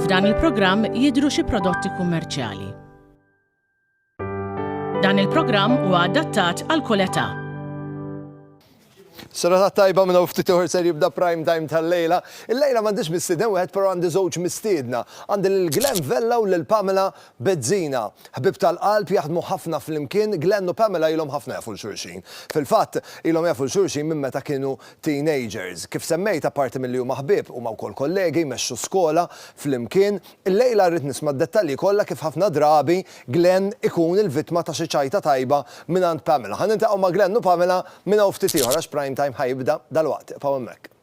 F'dan il-programm jidhru xi prodotti kummerċjali. Dan il-programm huwa adattat għal kull età. Serata tajba minna ftit uħor ser jibda prime time tal-lejla. Il-lejla m'għandix mistieden wieħed però għandi żewġ mistiedna. Għandi lil Glenn Vella u lil Pamela Bizzina. Ħbieb tal-qalb, jaħdmu ħafna flimkien, Glenn u Pamela ilhom ħafna jafu 'l xulxin. Fil-fatt, ilhom jafu 'l xulxin minn meta kienu teenagers. Kif semmejt, apparti milli huma ħbieb, huma wkoll kollegi, jmexxu skola flimkien. Illejla rrid nisma' d-dettalji kollha kif ħafna drabi Glenn ikun il-vittma ta' xi ċajta tajba mingħand Pamela. Ħa niltaqgħu ma' Glenn u Pamela minn hawn ftit ieħor għax Prime Time ħa jibda dalwaqt. Ibqgħu hemmhekk.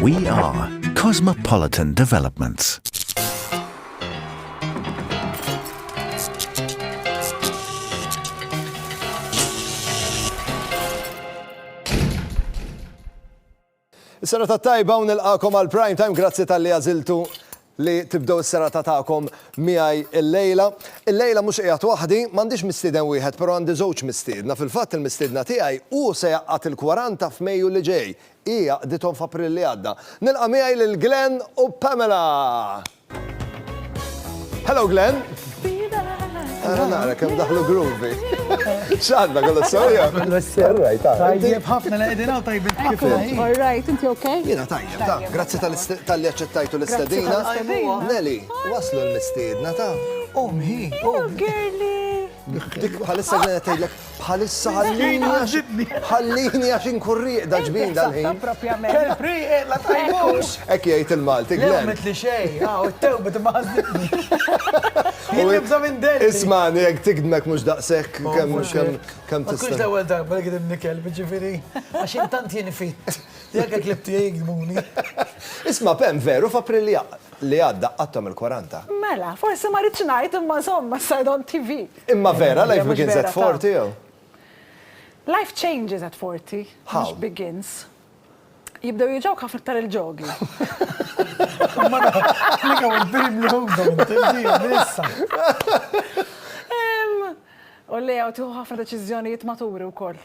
We are Cosmopolitan Developments. Is-sena ta' tajba u nilqakom għal prime time, grazzi tal-li għaziltu li tibdew is-serata tagħkom miegħi llejla. Illejla mhux qiegħed waħdi, m'għandix mistieden wieħed però għandi żewġ mistiedna. Fil-fatt il-mistiedna tiegħi hu se jgħaqqad il-kwaranta f'Mejju li ġej. Hi għaqqdithom f'April li għadda. Nilqa' miegħi lil Glenn u Pamela! Hello Glenn! Ara nara kemm daħlu groovy. X'għandna kollu s-sewja? All right, all right. Tajjeb ħafna li qegħdin hawn tajjeb. All right, inti okay? Jiena tajjeb. Ta, grazzi tal-li aċċettajtu l-istedina. Nelly, waslu l-mistiedna ta. Omhi, omhi. Dik bħalissa ġenet tgħidlek bħalissa ħallini ħallini għax inkurriq da ġbin dal-ħin. Kelpriq la tajmux. Ek jgħid il-Malti. Għamit li xej, għaw ah, it-tew bit maħzitni. Jibza minn del. Ismani, jek tigdmek mux daqsek oh, kem kem kem tista. Kux l-ewel darba li għidimni kelb ġifiri, għax intant jien fit. Jekk hekk li btiegħi jgdbuni. Isma' Pam, veru f'April li għadda qgħadthom il-kwaranta? Mela, forsi ma ridtx ngħid imma żomm ma said on TV. Imma vera life begins at forty jew? Life changes at forty, mhux begins. Jibdew jiġewk ħafna iktar il-ġogi. U l-għew tieħu ħafna deċiżjonijiet maturi wkoll.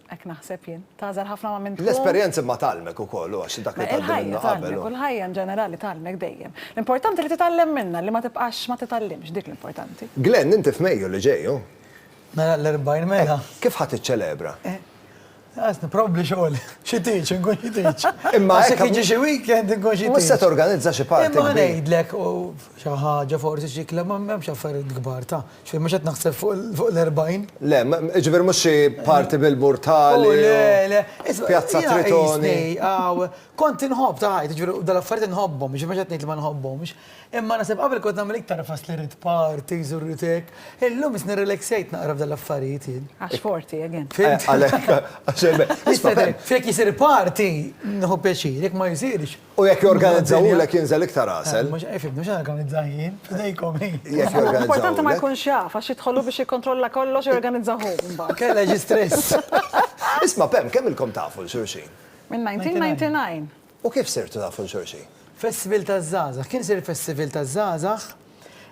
Hekk naħseb jien. Tagħżel ħafna ma' min tkun. L-esperjenza imma tgħallmek ukoll, u għax dak li tgħaddi minnu qabel. Il-ħajja tgħallmek, u l-ħajja in ġenerali tgħallmek dejjem. L-importanti li titgħallem minnha, li ma tibqax ma titgħallimx, dik l-importanti. Glenn, inti f'Mejju li ġej, hu? Nagħlaq l-40 mela. Kif ħa tiċċelebra? Għażni, probabbli xogħol. Xi teach, inkun xi teach. Imma hekk. Għax jekk jiġi xi weekend inkun xi teach. Mhux se torganizza xi party kbir. Imma ngħidlek, u Xi ħaġa forsi xi kliem ma hemmx affarijiet kbar ta'. Ġifieri mhux qed naħseb fuq l-40. Le, jiġifieri mhux xi parti bil-Murtali u. O le, le. Pjazza Tritoni. Kont inħobb ta' ħajti, jiġifieri dawn l-affarijiet inħobbhom, jiġifieri mhux qed ngħid li ma nħobbhomx. Imma naħseb qabel kont nagħmel iktar ħfas li rrid parties u rrid hekk. Illum issa nirrelaxxejt naqra f'dawn l-affarijiet jien. Għax forti, again. Għalhekk. Jekk isir party, nieħu pjaċir, jekk ma jsirx. U jekk jorganizzawhulek jinżel iktar għasel. Mhux qed ifhimni, mhux qed organizzah jien, f'idejkom hi. Jekk jorganizzawhulek. Importanti ma jkunx jaf, għax jidħol hu biex jikkontrolla kollox u jorganizza hu mbagħad. Kellha xi stress. Isma' Pam, kemm ilkom tafu 'l xulxin? Minn 1999. U kif sirtu tafu 'l xulxin? Festival taż-żgħażagħ. Kien isir festival taż-żgħażagħ,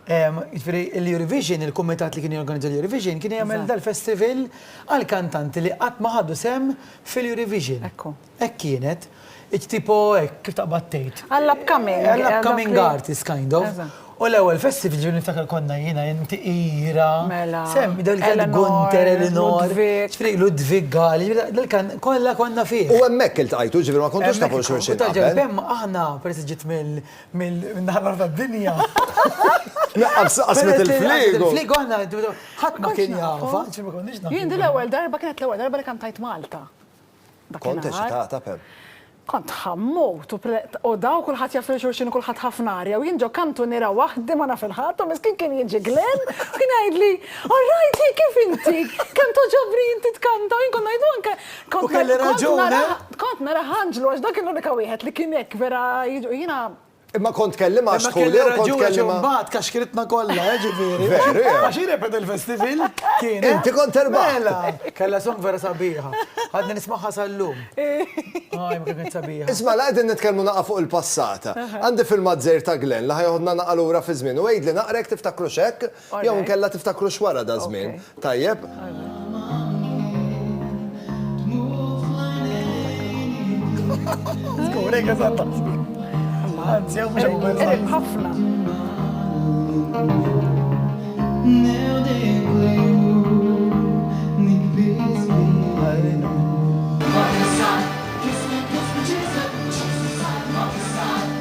jiġifieri l-Eurovision, il-kumitat li kien jorganizza l-Eurovision kien jagħmel dal-festival għall-kantanti li qatt ma ħadu sehem fil-Eurovision. Hekk hu. Hekk kienet, it tipo hekk kif taqbad tgħid. Għall upcoming. Għall upcoming artist kind of. U l-ewwel festi fil-ġieli niftakar konna jiena inti Ira. Mela. Semmi dak kien Gunter, Elinor. Ġifieri Ludwig Gal, dak kien kollha konna fih. U hemmhekk iltqajtu, ġifieri ma kontux tafu xulxin qabel. Aħna peress ġiet mill-naħa l-oħra tad-dinja. Qasmet il-fliegu. Il-fliegu aħna ħadd ma kien jafha. Jien din l-ewwel darba kienet l-ewwel darba li kantajt Malta. Kont eċitata, Pam? Kont ħammut u preqodaw kulħadd jaf lil xulxin u kulħadd ħafna arja u jien ġo kantuniera waħdi ma naf il-ħadd u miskin kien jiġi Glenn u kien jgħidli, All right, hi kif inti? Kemm togħġobni inti tkanta u jien kont ngħidu anke. U kelli raġun, eh? Kont nara ħanġlu għax dak kien l-unika wieħed li kien hekk vera jiġu jiena Imma kont tkellimha għax tħu lew kont tkellimha. Mbagħad kaxkritna kollha, eh, ġifieri. Veru. Għax repet il-festival kien. Eh? Inti kont terba'. Mela, kellha song vera sabiħa. Għadni nismagħha sal-lum. Għaj, ma kienet sabiħa. Isma' la qegħdin nitkellmu naqa' fuq il-passata. Għandi filmat żejr ta' Glenn li ħajoħodna naqa' lura fi żmien u għidli naqrek tiftakru x'hekk? Jew inkella tiftakru x'wara daż-żmien, tajjeb?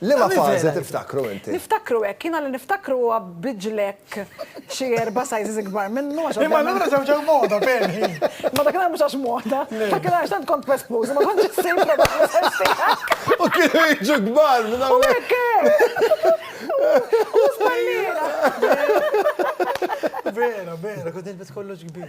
Liema fażi tiftakru inti? Niftakru hekk, jiena li niftakru huwa biġlek xi erba' sizes ikbar minnu għax. Imma allura żewġ għal moda ferm hi. Imma dakinhar mhux għax moda. Dakinhar għax tant kont pespuż ma kontx issib prodotti size tiegħek. U kienu jiġu kbar minn hawn. U hekk hekk! U żballiera. Vera, vera, kont nilbes kollox kbir.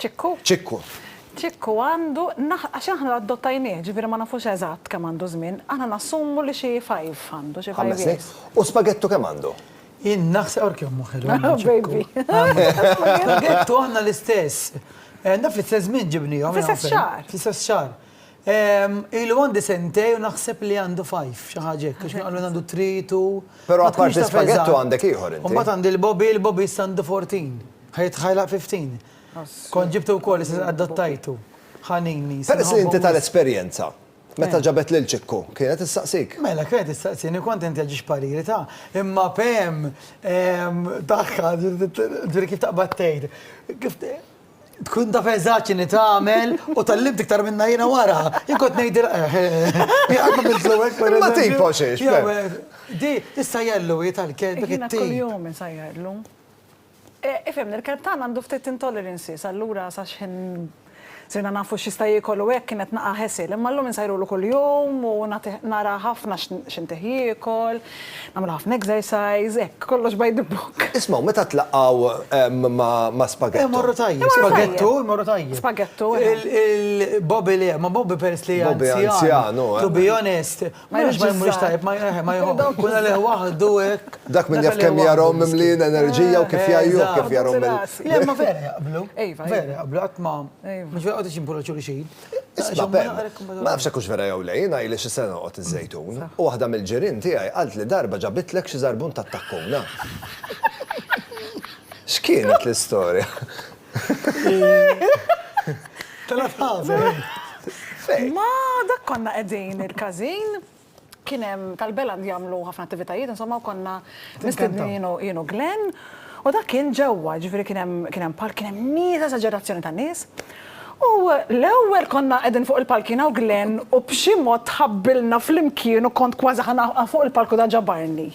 Ċikku? Ċikku. Ċikku għandu, għax aħna adottajnieh, ġifieri ma nafux eżatt kemm għandu żmien, aħna nassumu li xi five għandu, xi five years. U spaghettu kemm għandu? Jien naħseb għark kemm hu ħelu. Baby. Spaghettu aħna l-istess. Naf li fl-istess żmien ġibniehom. Fl-istess xahar. Fl-istess xahar. Ilu għandi sentej u naħseb li għandu fajf, xi ħaġa hekk, għax qalu għandu tritu. Però apparti spaghettu għandek ieħor inti. Imbagħad għandi l-bobi, l-bobi għandu 14. Ħajt ħajlaq fi ftin. Kont ġibtu wkoll is adottajtu. Ħanini. Peress li inti tal-esperjenza, meta ġabet lil Ċikku, kienet issaqsik? Mela, kienet issaqsini, kont inti għaġiex pariri ta', imma pem, tagħha, ġifieri kif taqbad tgħid, kif tkun taf eżatt x'inhi tagħmel u tallimt iktar minnha jiena wara. Jien kont ngħidilha jaqgħu mill-flowek. Ma tipo xiex. Di, issajjarlu hi tal-kelb. Jiena kuljum insajjarlu. Ifhimni, il-Kettan għandu ftit intolerances, allura sa x'ħin sirna nafu x'jista' jiekol u hekk kienet naqgħa ħesir. Imma llum insajrulu kuljum u nagħtih nara ħafna x'intih jiekol, nagħmlu ħafna exercise, hekk, kollox by the book. Isma' u meta tlaqgħu ma' Spaghetto? Imorru tajjeb. Spaghetto imorru tajjeb. Spaghetto, eħe. Il-Bobby le, ma' Bobby peress li anzjan. Bobby anzjan, hu. To be honest, Ma jridx ma jmurix tajjeb, ma jħeħ, ma jħobb. Kun għalih waħdu hekk. Dak min jaf kemm jarhom mimlin enerġija u kif jgħajjuh kif jarhom minn. Le ma vera jaqblu. Iva. Vera jaqblu qatt ma. Iva. Mhux vera qgħodux jimpuraw xulxin. Isma' Ben, ma nafx hekk hux vera jew le, jiena ili xi sena noqgħod iż-Żejtun, u waħda mill-ġirien tiegħi qaltli darba ġabitlek xi żarbun tat-takkuna. X'kienet l-istorja? Telgħet ħażen. Ma dak konna qegħdin il-każin, kien hemm tal-Beland jagħmlu ħafna attivitajiet insomma u konna mistednin jien u Glenn u dak kien ġewwa, jiġifieri kien hemm kien hemm palk, kien hemm nies, esaġerazzjoni ta' nies. U l-ewwel konna qegħdin fuq il-palk jiena u Glenn u b'xi mod tħabbilna flimkien u kont kważi ħa fuq il-palk u da ġabarni.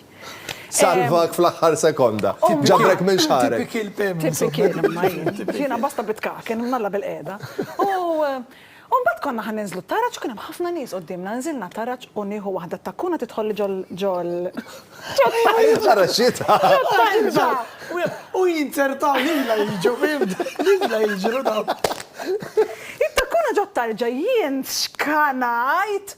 Salvak fl-aħħar sekonda. Ġabrek minn xagħrek. Tipikil Pim. Tipikil imma jien. Jiena basta bitkaken, nalla bil-qiegħda. U mbagħad konna ħa ninżlu t-taraġ u kien hemm ħafna nies quddiemna. Nżilna t-taraġ u nieħu waħda t-takkuna tidħolli ġol ġol ġot-taraġ. Taraġxitha. Ġot-taraġġa. U jinzertaw lilha jiġu Pim. Lilha jiġru dawn. It-takkuna ġot-tarġa jien xkanajt.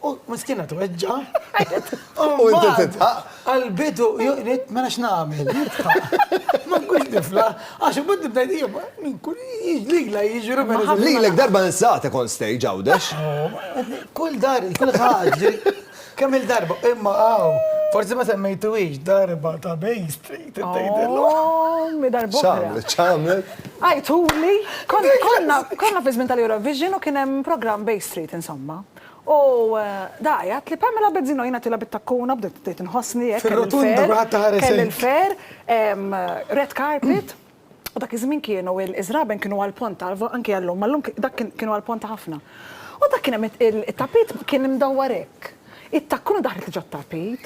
U miskina tweġġa. U inti titħaq. Għal-bidu, jgħid, mela x'nagħmel, jitħaq. Ma nkunx nifla, għax u bad nibdajt jgħib, minn kull jgħidlila jġru mela. mela. Lilek darba nsaqt ikon stage għawdex. Kull dar, kull ħagġi, kemm il-darba, imma għaw. Forsi ma semmejtu iġ darba ta' Bay Street, t-tajdillu. Oh, mi darba. ċamlet, ċamlet. Għajtuli, konna fizmin tal-Eurovision u kienem program Bay Street, insomma. U dgħajjat li Pamela Bezzino, jiena għatilha bit-takkuna, bdejt bdejt inħossni hekk, kelli Fir-rotunda l-fer, kulħadd iħares kelli hekk. l-fer, em, red carpet, u dak iż-żmien kienu il, iż-żraben kienu għall-ponta, l-vo, anki għal lum, ma llum ki, dak kien, kienu għall-ponta ħafna. U dak kien hemm it, il, it-tapit kien imdawwar hekk. It-takkuna daħlet ġo t-tapit.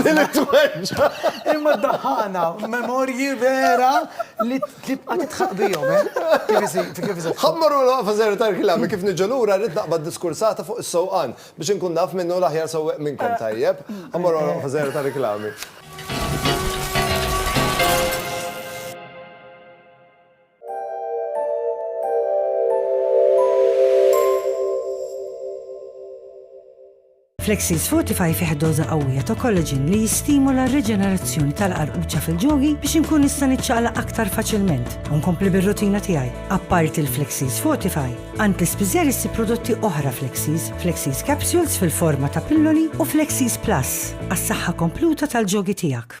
Ġieli tweġġa'. Imma ddaħħaqna memorji vera li tibqa' tidħaq bihom, eh? Ħa mmorru l-waqfa żgħira tar-riklami, kif niġu lura rrid naqbad diskursata fuq is-sewqan biex inkun naf min hu l-aħjar sewwieq minnkom, tajjeb? Ħa mmorru għall-waqfa żgħira tar-riklami. Flexis Fortify fih doża qawwija ta' collagen li jistimula r-riġenerazzjoni tal-qarquċa fil-ġogi biex inkun nista' niċċaqlaq aktar faċilment u nkompli bir-rutina tiegħi. Apparti l-Flexis Fortify, Antispiżer issib prodotti oħra Flexis, Flexis Capsules fil-forma ta' pilloli u Flexis Plus għas-saħħa kompluta tal-ġogi tiegħek.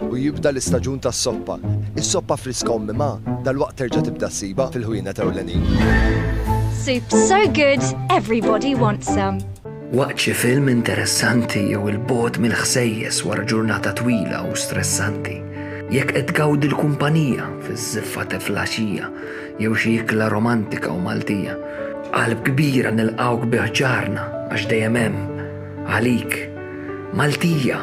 U jibda l-istaġun tas-soppa. Is-soppa friska u mmimgħa dalwaqt terġa' tibda ssibha fil-ħwienet ewlenin. Soup so good, everybody wants some. Waqt xi film interessanti jew il-bogħod mill-ħsejjes wara ġurnata twila u stressanti, jekk qed tgawdi l-kumpanija fiż-żiffa ta' flaxija jew xi ikla romantika u Maltija, b'qalb kbira nilqgħuk bi ħġarna għax dejjem hemm, għalik, Maltija!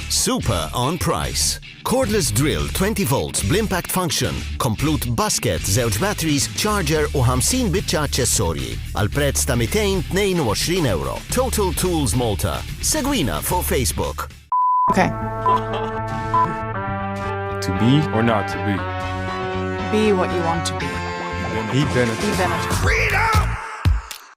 Super on price. Cordless drill 20 volts bl-impact function, komplut basket, żewġ batteries, charger u 50 biċċa aċċessorji għal prezz ta' 222 euro. Total Tools Malta. Segwina fuq Facebook. Okay. to be or not to be. Be what you want to be. Be Benetton. Be Benetton. Freedom!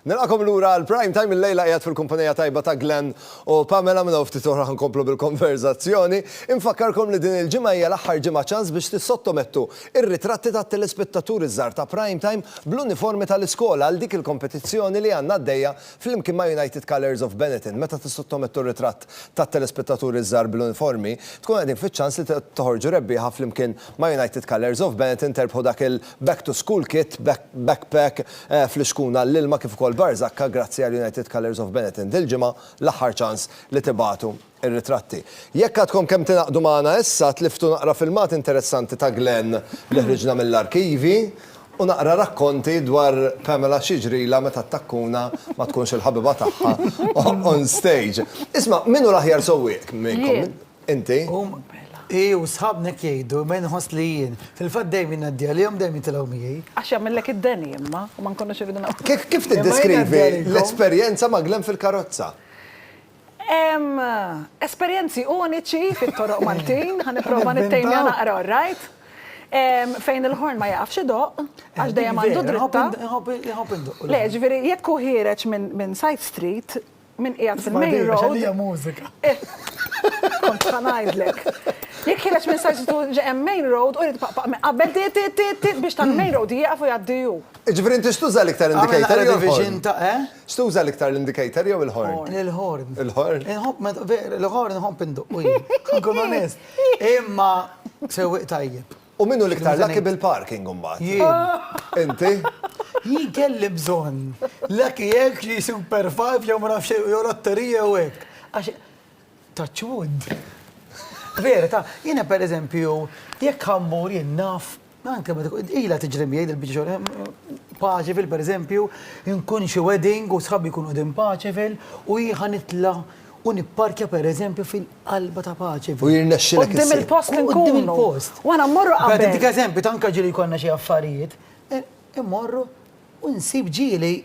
Nilqakom lura għal prime time il-lejla qiegħed fil-kumpanija tajba ta' Glenn u Pamela minn ftit oħra ħankomplu bil-konverzazzjoni. Infakkarkom li din il-ġimgħa hija l-aħħar ġimgħa ċans biex tissottomettu ir-ritratti tat-telespettaturi żgħar ta' prime time bl-uniformi tal-iskola għal dik il-kompetizzjoni li għandna għaddejja flimkien ma' United Colours of Benetton. Meta tissottomettu r-ritratt tat-telespettaturi żgħar bl-uniformi, tkun qegħdin fiċ-ċans li toħorġu rebbieħa flimkien Ma' United Colours of Benetton terbħu dak il Back to School Kit, Backpack, fl-ixkun għall-ilma kif ukoll Bar Zakka grazzi għal United Colours of Benetton. Dil-ġimgħa l-aħħar ċans li tibagħtu r-ritratti. Jekk għadkom kemm tingħaqdu magħna issa, tliftu naqra filmat interessanti ta' Glenn li ħriġna mill-arkivi u naqra rakkonti dwar Pamela x'jiġrilha meta t-takkuna ma tkunx il-ħabiba tagħha on stage. Isma', min hu l-aħjar sewwieq minnkom? Inti? Hi u sħabna hekk jgħidu, imma jien inħoss li jien. Fil-fatt dejjem jien ngħaddi għalihom, dejjem jitilgħu miegħi. Għax jagħmillek id-deni imma, u ma nkunux irridu nagħmlu. Kif tiddeskrivi l-esperjenza ma' Glenn fil-karozza? Hemm esperjenzi uniċi fit-toroq Maltin, ħa nipprova nittejmja naqra, all right? Fejn il-ħorn ma jaqafx idoqq, għax dejjem għandu dritta. Iħobb indoqqlu. Le, ġifieri jekk hu ħiereġ minn side street, Min qiegħed fil-main road. Isma' din, hija mużika. Kont ħa ngħidlek. Jekk ħireġ minn sajsitu ġe hemm main road u jrid paqpaq minn qabel ti ti ti ti biex tal-main road jieqaf u jgħaddi hu. Jiġifieri inti x'tuża l-iktar indicator jew il-horn? X'tuża l-iktar l-indicator jew il-horn? Il-horn. Il-horn? Il-horn inħobb indoqqu jien. Ħankun onest. Imma sewwieq tajjeb. U min hu l-iktar lucky bil-parking imbagħad? Jien. Inti? Jien kelli bżonn lucky hekk xi super five jew ma nafx jew lotterija jew hekk. Għax touch wood. Vera, ta' jiena pereżempju jekk ħa mmur jien naf anke meta kont ilha tiġri miegħi dil-biċċa xogħol Paċeville pereżempju, inkun xi wedding u sħabi jkunu qegħdin Paċeville u jien ħa nitla' u nipparkja pereżempju fil-qalba ta' paċi. U jirnexxilek Qudiem issib. il-post Qudiem inkunu. il-post. U aħna mmorru Qed qabel. intik eżempju ta' anke ġieli jkollna xi affarijiet, eh, immorru u nsib ġieli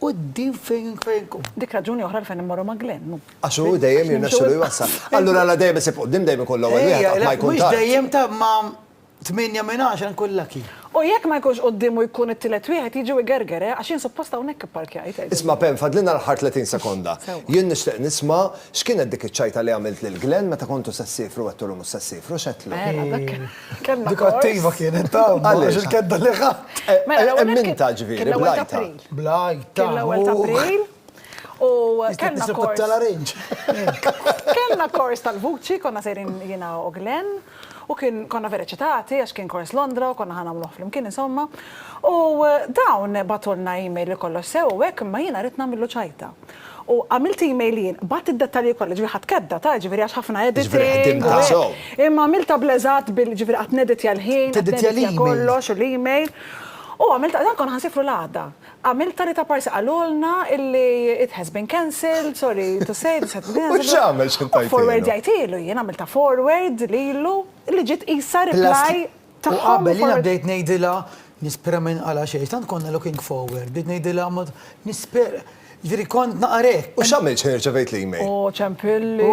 quddiem fejn fejn nkun. Dik raġuni oħra għalfejn immorru ma' Glenn, hu. Għax hu dejjem jirnexxilu jwassal. Allura la dejjem isib quddiem, dejjem ikun l-ewwel wieħed Ejja, qatt ma le, jkun mhux tard. dejjem ta' ma Tmienja minn għaxra nkun lucky. U jekk ma jkunx quddiemu jkun it-tielet wieħed jiġi u jgerger, eh, għax jien suppost hawnhekk ipparkjajt, għidt. Isma' Pam, fadlilna l-aħħar tletin sekonda. Sewwa. Jien nixtieq nisma' x'kienet dik iċ-ċajta li għamilt lil Glenn meta kontu se ssifru u għedtulu mhux se ssifru, x'għedtlu? Mela, dak kellna Dik kors. attiva kienet ta', ma Għaliex? għax il-kedda li ħadt. Mela, l-ewwel Emminta, nett ġifieri, kien l-ewwel ta' bl-għajta. April. Bl-għajta. Kien l-ewwel ta' April. U kellna kors. Kellna kors tal-vuċi, konna sejrin jiena u Glenn, u kien konna vera eċitati għax kien kors Londra u konna ħa nagħmluh flimkien insomma. U dawn bagħtulna email li kollox sew u hekk imma jiena rrid nagħmillu ċajta. U għamilt email jien, bgħatt id-dettalji kollha, ġifieri ħadt kedda ta' ġifieri għax ħafna editing. Imma għamiltha bl eżatt bil ġifieri qatt neditja l-ħin, qed neditja kollox u l-email. U għamilt, dan konna ħa nsifru l-għada. Għamilt tali ta' parsi qalulna illi it has been cancelled, sorry to say, this has been cancelled. U x'għamel, x'int tajtilu? U forwardjajtilu jien, għamiltha forward lilu, li ġiet qisha reply tagħhom. U qabel jiena bdejt ngħidilha, nispera ma jinqala' xejn, tant konna looking forward, bdejt ngħidilha nispera, jiġifieri kont naqra hekk. U x'għamilt x'ħin irċevejt l-email? U ċempilli.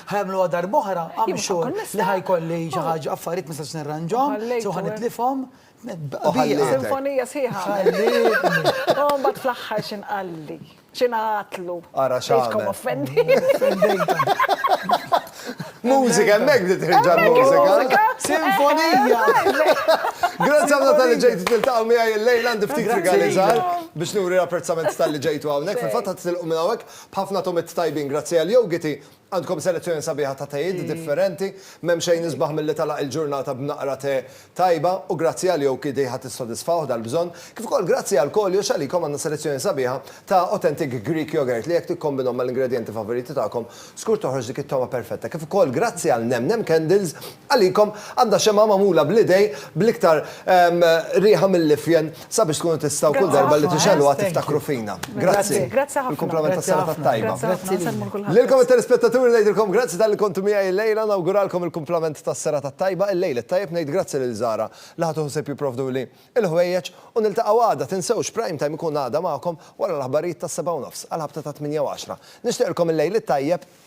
Ħajgħamluha darb'oħra, I'm sure, li ħajkolli xi ħaġa, affarijiet ma nistax nirranġhom, so ħa nitlifhom. Sinfonija sħiħa. U mbagħad fl-aħħar xi nqalli, xi ngħatlu. Ara x'għamel. Mużika, hemmhekk bdiet terġa' l-mużika. Sinfonija! Grazzi ħafna tal-li ġejtu tiltaqgħu miegħi l-lejl għandi ftit rigali żgħar biex nuri l-apprezzament tal-li ġejtu hawnhekk. Fil-fatt ħadd tilqu minn hawnhekk b'ħafna tomit tajbin grazzi għal Yogiti. Għandkom selezzjoni sabiħa ta' tejiet differenti, m'hemm xejn isbaħ milli tagħlaq il-ġurnata b'naqra te tajba u grazzi għal Yoki Diha tissodisfawh dal-bżonn. Kif ukoll grazzi għal kollox għalikom għandna selezzjoni sabiħa ta' authentic Greek yogurt li jekk tikkombinhom mal-ingredjenti favoriti tagħkom, żgur toħroġ dik it-togħma perfetta. Kif ukoll grazzi għal Nem Nem Candles Għalikom għandha xemgħa magħmula bl-idejn bl-iktar riħa mill-ifjen sabiex tkunu tistgħu kull darba li tixegħluha tiftakru fina. Grazzi. Bil-kumplament tas-serata t-tajba. Lilkom it-telespettaturi ngħidilkom grazzi talli kontu miegħi illejla, nawguralkom il-kumplament tas-serata t-tajba, il-lejl it-tajjeb, ngħid grazzi lil Zara li ħadu ħsieb jipprovduli l-ħwejjeġ u niltaqgħu għada tinsewx Prime Time ikun għada magħkom wara l-aħbarijiet tas-sebgħa u nofs għal ħabta ta' tmienja u għaxra. Nixtieqilkom il-lejl it-tajjeb.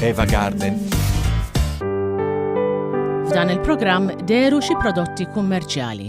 Eva Garden. F'dan il-programm deru xi prodotti kummerċjali.